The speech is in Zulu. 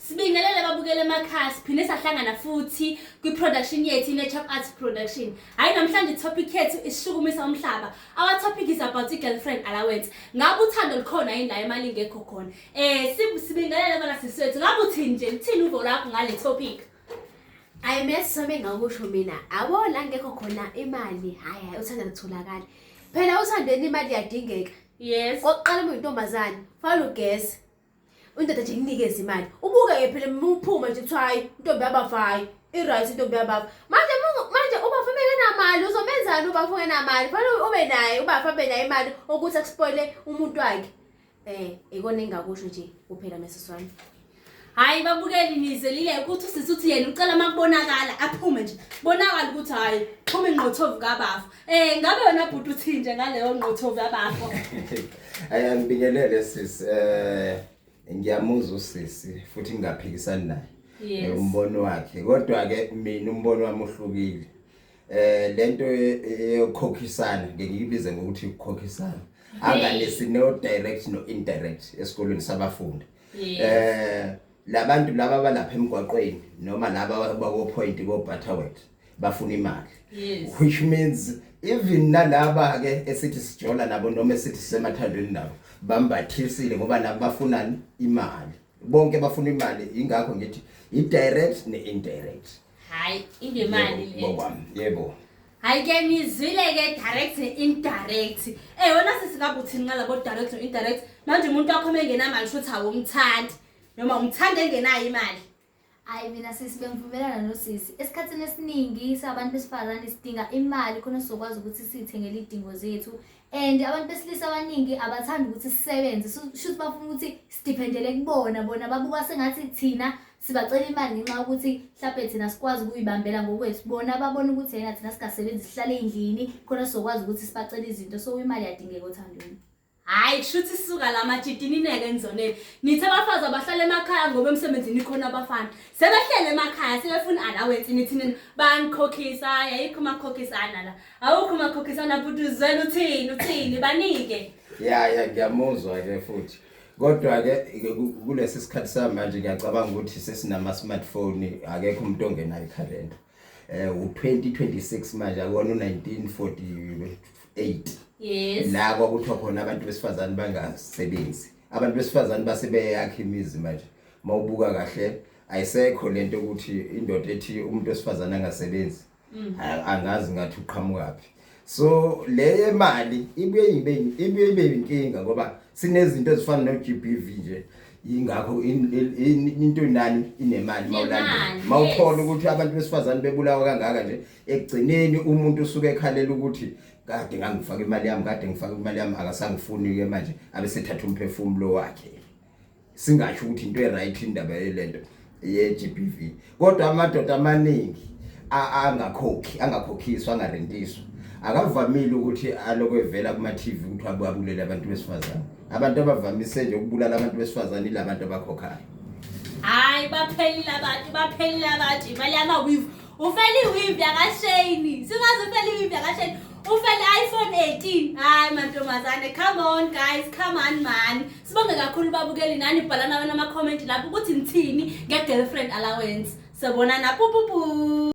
Sibingelele babukele emakhaya siphinde sahlangana futhi kwi-production yethu i-Nature Arts Production. Hhayi namhlanje i-topic yethu isishukumisa umhlaba. Our topic is about i-girlfriend allowance. Ngabe uthando lukhona yini la imali ingekho khona? Eh sibingelele kona sisi wethu. Ngabe uthini nje? Luthini uvo lwakho ngale topic? Ayi mesome ngakusho mina. Abo la ngekho khona imali. Hayi hayi uthanda kutholakala. Phela uthandweni imali iyadingeka. Yes. Kokuqala uma uyintombazane, fanele ugeze. Indoda nje ikunikeza imali. Ubuke ke phela muphuma nje kuthiwa hayi intombi yabafayo. I-right intombi yabafa. Manje mungu- manje ubafa bengenamali uzomenzani ubafa ungenamali? Fanele ube naye ubafa abe nayo imali ukuthi akuspoile umuntu wakhe. Eh, ikona engingakusho nje kuphela mesisi wami. Hayi babukeli nizelile ukuthi usisi uthi yena ucela uma kubonakala aphume nje. Bonakala ukuthi hayi phuma ingqothovu kabafa. Eh ngabe wena bhuti uthinje ngaleyo ngqothovu yabafo. Aya ngibingelele sis eh ngiyamuzwa usisi futhi ngingaphikisani naye. Yes. Umbono wakhe kodwa ke mina umbono wami uhlukile. Eh lento eyokhokhisana ngiyibize ngokuthi ukukhokhisana. Angalesi no direct no indirect esikolweni sabafundi. Yes. Eh labantu laba balapha emgwaqweni noma laba bako point ko Butterworth. bafuna imali yes. which means even nalaba ke esithi sijola nabo noma esithi sisemathandweni nabo bambathisile ngoba nabo bafuna imali bonke bafuna imali ingakho ngithi i direct ne indirect hayi ingemali le ngokwami yebo hayi ke ngizwile ke direct ne indirect eh wona sisikabuthini nqala bo direct no indirect manje umuntu wakho mengenamali shothi awumthandi noma umthanda engenayo imali Hayi mina sisi bengivumelana nosisi. Esikhathini esiningi sabantu besifazane sidinga imali khona sizokwazi ukuthi sithengele idingo zethu. And abantu besilisa abaningi abathandi ukuthi sisebenze. So shuthi bafuna ukuthi sidependele kubona bona babuka sengathi thina sibacela imali ngenxa yokuthi mhlawumbe thina sikwazi ukuyibambela ngokwethu bona babona ukuthi yena thina singasebenzi sihlale endlini khona sizokwazi ukuthi sibacele izinto so imali yadingeka othandweni Hayi kushuthi suka la majidi nineke enizoneni. Nithe abafazi abahlala emakhaya ngoba emsebenzini khona abafana. Sebehlele emakhaya sebefuna allowance nithi nina banikhokhisa hayi ayikho makhokhisana la. Awukho makhokhisana futhi uzwela uthini uthini banike. Ya ya ngiyamuzwa ke futhi. Kodwa ke ke ku- kulesi sikhathi samanje ngiyacabanga ukuthi sesinama smartphone akekho umuntu ongenayo ikhalenda. eh u2026 manje akona 1948 yes la kwakuthiwa khona abantu besifazane bangasebenzi abantu besifazane base beyakha imizi manje mawubuka kahle ayisekho lento ukuthi indoda ethi umuntu wesifazane angasebenzi mm. angazi ngathi uqhamuka phi so le mali ibuye ibe ibuye ibe inkinga ngoba sinezinto ezifana no GBV nje ingakho into nani inemali mawulanda mawukhola ukuthi abantu besifazane bebulawa kangaka nje ekugcineni umuntu usuke ekhalela ukuthi kade ngangifaka imali yami kade ngifaka imali yami akasangifuni ke manje abesethatha umphefumulo wakhe singasho ukuthi into eright indaba yelento ye GBV kodwa amadoda amaningi angakhokhi angakhokhiswa angarentiswa akavamile ukuthi aloko evela kuma TV ukuthi ababulele abantu besifazane abantu abavamise nje ukubulala abantu besifazane ilabantu abakhokhayo hayi baphelile abantu baphelile abantu imali yama weave ufela iweave yakashayini singaze ufela iweave yakashayini ufela iPhone 18 hayi mantombazane come on guys come on man Sibonge kakhulu babukeli nani bhala nawe nama comment lapho ukuthi ngithini nge girlfriend allowance. Sobonana pupupu.